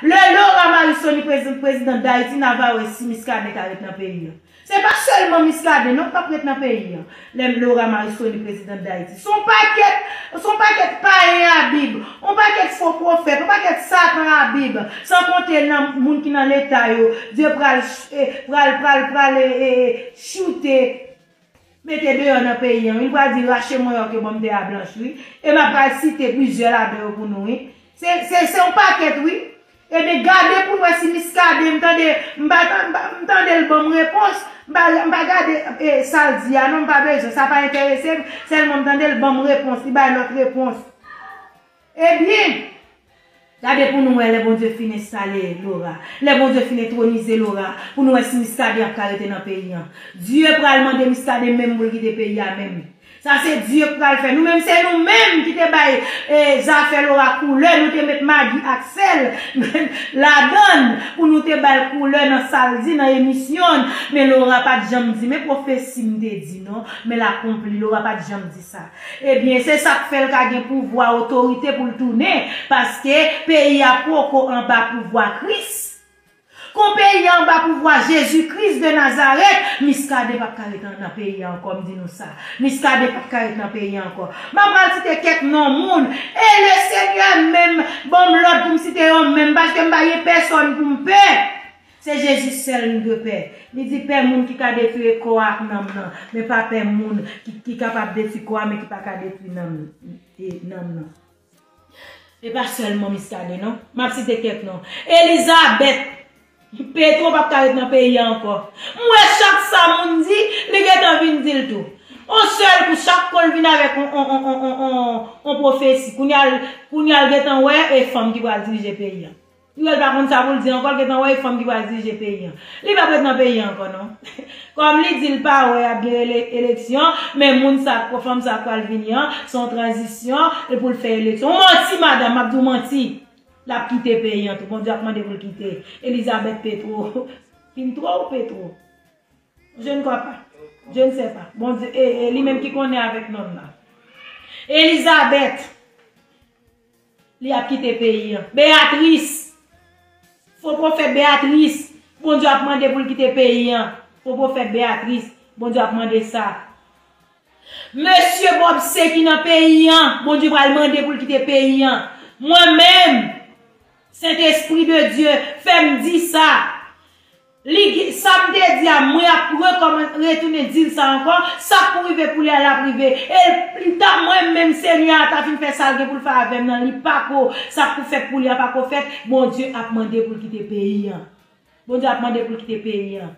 Lè Laura Marisony prezante prezidan Dayiti na va wè si Miskaden ka ret nan peyi an. Se pa sèlman Miskaden non kap ret nan peyi an lè Laura Marisony prezidant Dayiti. Son pakèt, son pakèt payen a bib, on pakèt fo pwofèt, on pakèt satan a bib san konte nan moun ki nan leta yo Dye pral pral pral pral choute. mete deyò nan peyi an wi, m pral di rache mwen yo ke banm tè a blanch wi, e m ap pral site plizyè ladan yo pou nou wi. Se, se, se yon pakèt wi. Ebyen gade pou n wè si Miskaden, m tande, m pa tan, m pa, m tande l ban m repons, m pa, m pa gade e sa l di a non, m pa bezwen, sa pa enterese m, sèlman m tande l ban m repons, li bay lòt repons. Ebyen! Gade pou nou wè lè Bondye fin enstale Laura, lè Bondye fin entronize Laura pou nou wè si Muscadin ap ka rete nan peyi an. Dieu pral mande Muscadin menm pou l kite peyi a menm. Sa se Dieu k pral fè. Nou menm se nou menm ki te bay zafè Laura koulè, nou te met magi ak sèl ladan l pou nou te ba l koulè nan sa l di nan emisyon l. Men Laura pat janm di men pwofesi m te di non, men l akonpli. Laura pat janm di sa. Ebyen se sak fèl ka gen pouvwa otorite poul tounen paske peyi a poko anba pouvwa kris kon peyi a anba pouvwa jezi kris de nazarèt miskaden pap ka ret nan peyi a ankò m di nou sa miskaden pap ka ret nan peyi a ankò map pral site kèk non moun e le senyè menm banm lòd poum site yo menm paske m pa gen pèsòn poum pè Se Jezi sèl nou dwe pè. Li di pè moun ki ka detwi kò a ak nanm nan, men pa pè moun ki kapab detwi kò a men ki pa ka detwi nanm nan. E pa sèlman Miskaden non. M ap site kèk non. Elizabèt! Petro pap ka ret nan peyi a ankò. M wè chak sa moun di, li gentan vin di l tou. On sèl kou chak kò l vin avèk on pwofesi. Kounye a l gentan wè e fanm ki pral dirije peyi a. Piyol pa konn sa poul di ankò l gentan wè e fanm ki pral dirije peyi an. Li pap ret nan peyi an ankò non. Kòm li di l pa wè ap gen eleksyon men moun sa ak fanm sa k pral vini an se yon tranzisyon e pou l fè eleksyon. Ou manti madanm map di w manti. Lap kite peyi an tou Bondye ap mande pou l kite. Elizabeth Petro Pintro ou Petro? Je ne crois pas. Je ne sais pas. Bondye e li menm ki konnen avèk nonm nan. Elizabeth. Li ap kite peyi an. Beatrice! Fo pwofèt Beatrice! Bondye ap mande pou l kite peyi an. Fo pwofèt Beatrice! Bondye ap mande sa. Mesye Bobse ki nan peyi an! Bondye pral mande pou l kite peyi an. Mwen menm! Sentespri de Dye, fè m di sa! Li gen, sa m te di a, mwen ap rekòman, retounen di l sa ankò, sa pou rive pou li a, l ap rive. E m ta, mwen menm, Senyè a ta fin fè sa l gen pou l fè avè m nan, li pa ko, sa k pou fèt pou li a pa ko fèt, Bondye ap mande pou l kite peyi an. Bondye ap mande pou l kite peyi an.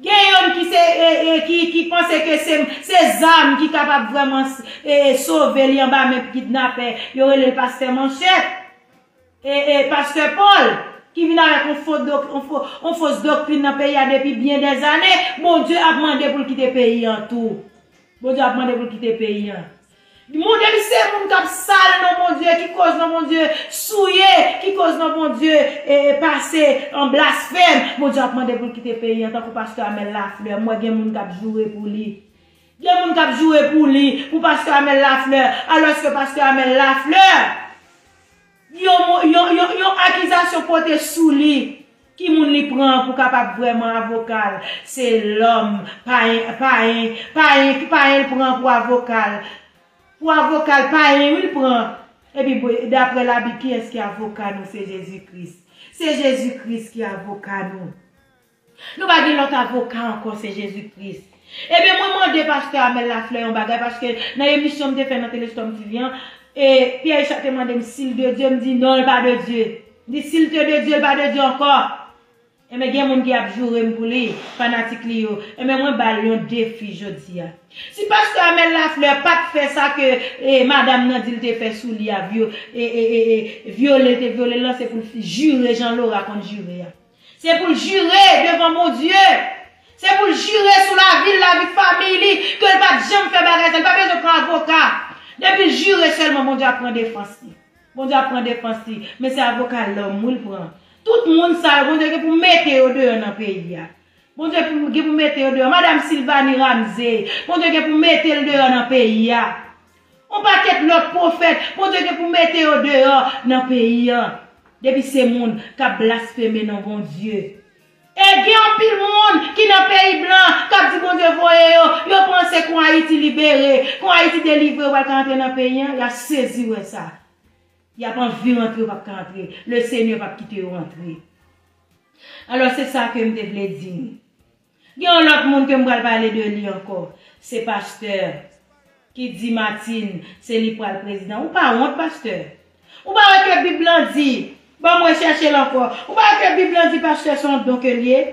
Gen youn ki se, e, e, ki, ki panse ke se, se zam ki kapab vrèman, e, sove li anba men kidnapè, yo rele l pastè Manchèt. E e pastè Paul ki vin avèk yon fo dok yon fos doktrin nan peyi a depi byen dè zane, Bondye ap mande pou l kite peyi an tou. Bondye ap mande pou l kite peyi an. Moun depi se moun k ap sal non Bondye, ki koz non Bondye souye, ki koz non Bondye e e pase an blasfèm, Bondye ap mande pou l kite peyi an tankou pastè Amel Lafleur, m wè gen moun k ap joure pou li. Gen moun kap joure pou li, pou Pastè Amel Lafleur, alòske Pastè Amel Lafleur, yon mo, yon, yon, yon akizasyon pote sou li, ki moun li pran pou kapab vrèman avoka l, se lòm, payen, payen, payen, payen l pran pou avoka l, pou avoka l, payen wi l pran, epi bwe, daprè labib kiyès ki avoka nou se Jezi Kris, se Jezi Kris ki avoka nou. Nou pa gen lòt avoka ankò se Jezi Kris. Ebyen mwen mande pastè Amel Lafleur yon bagay paske nan emisyon m te fè nan Telestorm TV an, e Pierre Richard te mande m si l de Dye m di non l pa de Dye. M di si l te de Dye l pa de Dye ankò. Ebyen gen moun ki ap joure m pou li, fanatik li yo. Ebyen mwen ba l yon defi jodi a. Si pastè Amel Lafleur pa t fè sa ke madam nan di l te fè sou li a, vyole l te vyole l lan se pou l jure jan Laura konn jure a. Se pou l jire devan Bondye. Se pou l jire sou lavi l, lavi famiy li, ke l pa t janm fè bagay sa. Li pa bezwen pran avoka. Depi l jire sèlman, Bondye ap pran defans li. Bondye ap pran defans li. Men se avoka lòm wi l pran. Tout moun sa yo, Bondye gen pou mete yo deyò nan peyi a. Bondye gen pou mete yo deyò. Madam Sylvanie Ramsey, Bondye gen pou mete l deyò nan peyi a. On pakèt lòt pwofèt Bondye gen pou mete yo deyò nan peyi an depi se moun kap blasfeme non Bondye. E gen anpil moun ki nan peyi blan kap di Bondye voye yo, yo panse kon Ayiti libere, kon Ayiti delivre yo pral ka antre nan peyi an, yap sezi wè sa. Yap anvi rantre yo pap ka antre, le Senyè pap kite yo antre. Alò se sa kem te vle di nou. Gen yon lòt moun ke m pral pale de li ankò. Se pastè ki di Matin se li pral prezidan. Ou pa wont pastè? Ou pa wè ke bib lan di, banm wè chèche l ankò. Ou pa wè ke bib lan di pastè son don ke l ye?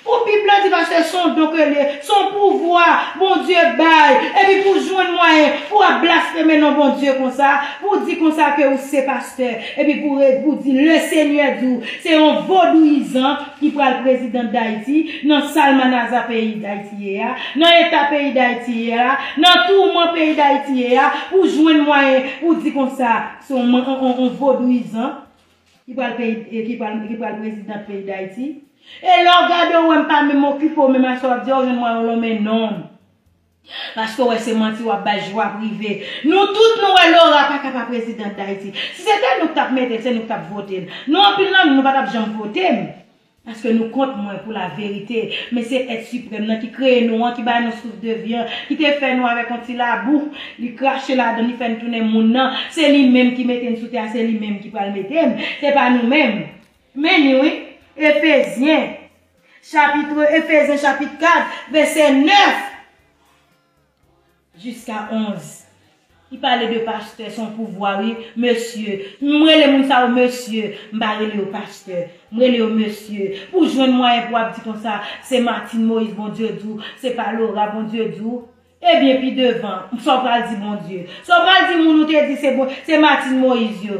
Pou bib lan di pastè son don ke l ye, son pouvwa Bondye bay epi pou jwenn mwayen pou ap blasfeme non Bondye konsa, pou di konsa ke ou se pastè epi pou pou di le senyè di w se yon vodouyizan, ki pral president dayiti nan salmanaza peyi dayiti ye a nan eta peyi dayiti ye a nan tourman peyi dayiti ye a pou jwenn mwayen pou di konsa se yon man yon vodouyizan ki pral peyi ki pral president peyi dayiti e lè w gade w wè m pa menm okipe w menm a sa w ap di a w jwenn mwayen w lonmen non m. Paske w wè se manti wap bay jwa prive nou tout nou wè Laura paka pa president dayiti si se te nou k tap metel se nou k tap votel nou anpil nan nou nou patap janm votem paske nou kont mwen pou la verite men se èt siprèm nan ki kreye nou an ki bay nou souf de vi an ki te fè nou avèk yon ti labou li krache ladann li fè n tounen moun nan se li menm ki mete n sou tè a se li menm ki pral metem se pa nou menm men li wi efezyen. Chapitre Efesyen chapit 4 vèsè 9 jiska 11 li pale de pastè son pouvwa wi mesye m rele moun sa yo mesye m pa rele yo pastè m rele yo mesye pou jwenn mwayen pou ap di konsa se Martine Moïse Bondye di w se pa Laura Bondye di w Ebyen pi devan sa w pral di Bondye? Sa w pral di moun ou te di se bon se Martine Moïse yo?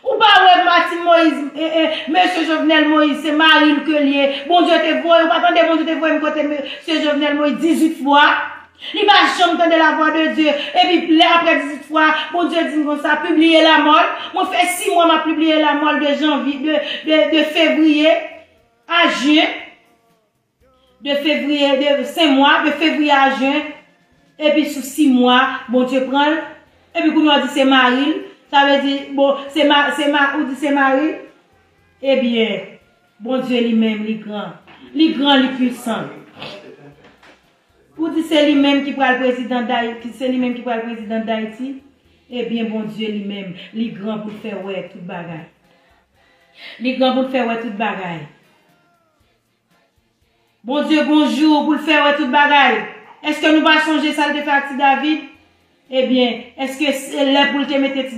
Ou pa wè Martine Moïse eh eh Mesye Jovenel Moïse se mari l ke l ye Bondye te voye ou pa tande Bondye te voye m kote Mesye Jovenel Moïse 18 fwa li pa janm tande la vwa de Dye epi lè aprè 18 fwa Bondye di m konsa pibliye la mò l mwen fè 6 mwa m ap pibliye la mò l de janvy de de fevriye a jyen. De fevriye de sen mwa de fevriye a jen epi sou si mwa bondye pranl epi kounye a ou di se maril sa vle di bon se ma se ma ou di se maril ebyen bondye li menm li gran li gran li pwisan ou di se li menm ki pral prezidan day ki se li menm ki pral prezidan dayiti ebyen bondye li menm li gran poul fè wè tout bagay li gran poul fè wè tout bagay. Bondye gon jou pou l fè wè tout bagay. Èske nou pa sonje sa l te fè ak ti David? Ebyen, èske se lè pou l te mete ti.